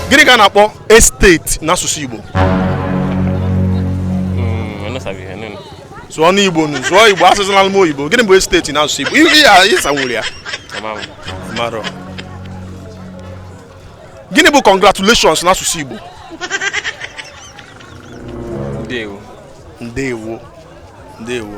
gịnị ka a na-akpọ esteti n'asụsụ Igbo sụọ n'Igbo nụ sụọ Igbo asụzinalụ m oyibo gịnị bụ estate n'asụsụ Igbo ihe ya ịsanwuru ya gịnị bụ congratulations n'asụsụ Igbo ndewo ndewo ndewo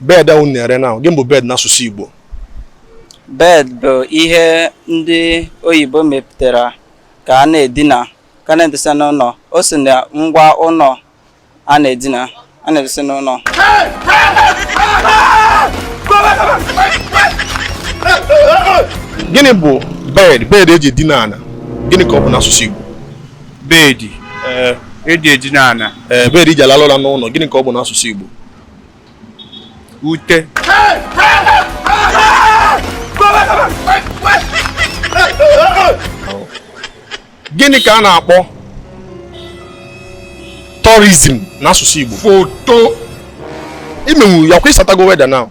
bed ahụ na-ere now gịnị bụ bed n'asụsụ Igbo bed bụ ihe ndị oyibo mepụtara ka a na-edina ka a na-edesa n'ụnọ o si na ngwa ụnọ a na-edina a na-edesa n'ụnọ gịnị bụ bed bed eji edina ana gịnị ka ọ bụ n'asụsụ Igbo Bed eh, eji edina ana. Ee, eh, bed eji alalụ ụla n'ụnọ gịnị ka ọ bụ n'asụsụ Igbo? Ute. Gịnị ka a na-akpọ tourism n'asụsụ Igbo? Foto. Imenwu ya kwa ịsatago weather now.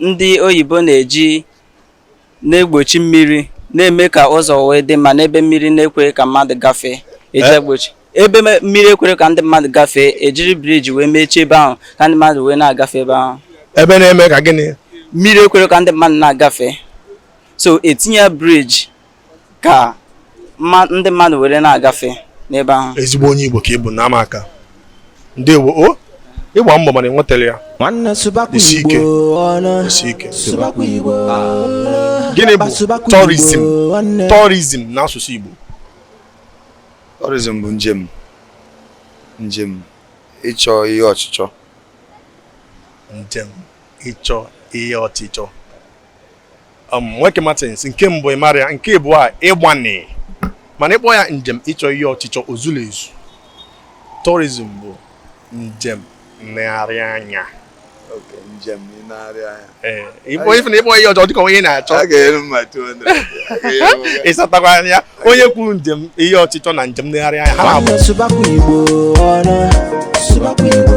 ndị oyibo na-eji na-egbochi mmiri na-eme ka ụzọ wee dị mma n'ebe mmiri na-ekwere ka mmadụ gafee eji eh? egbochi ebe mmiri ekwere ka ndị mmadụ gafee ejiri bridge wee mechie ebe ahụ ka ndị mmadụ wee na-agafe ebe ahụ ebe na-eme ka gịnị mmiri ekwere ka ndị mmadụ na-agafe so etinye bridge ka ndị mmadụ were na-agafe n'ebe ahụ ezigbo onye Igbo ka ị bụ na ama aka ndewo o ịgba mbọ mana i nwetarọ ya nwanne sụbakwa igbo ọnụ sụbakwa igbo gịnị bụ tourism tourism n'asụsụ igbo tourism bụ njem njem ịchọ ihe ọchịchọ njem ịchọ ihe ọchịchọ um, nwoke Martins nke mbụ ịmarọ ya nke ịbụa ịgbani mana ịkpọ ya njem ịchọ ihe ọchịchọ o zurọ ezu tourism bụ njem nlegharị anya njem nlegharị anya ee ịkpọ ife na ịkpọ ihe ọchịchọ dịka onye na-achọ a ga-ere mma 200 ịsatakwa anya onye kwuru njem ihe ọchịchọ na njem nlegharị anya ha na-abụ Nwanne sụbakwa Igbo ọnụ, sụbakwa Igbo.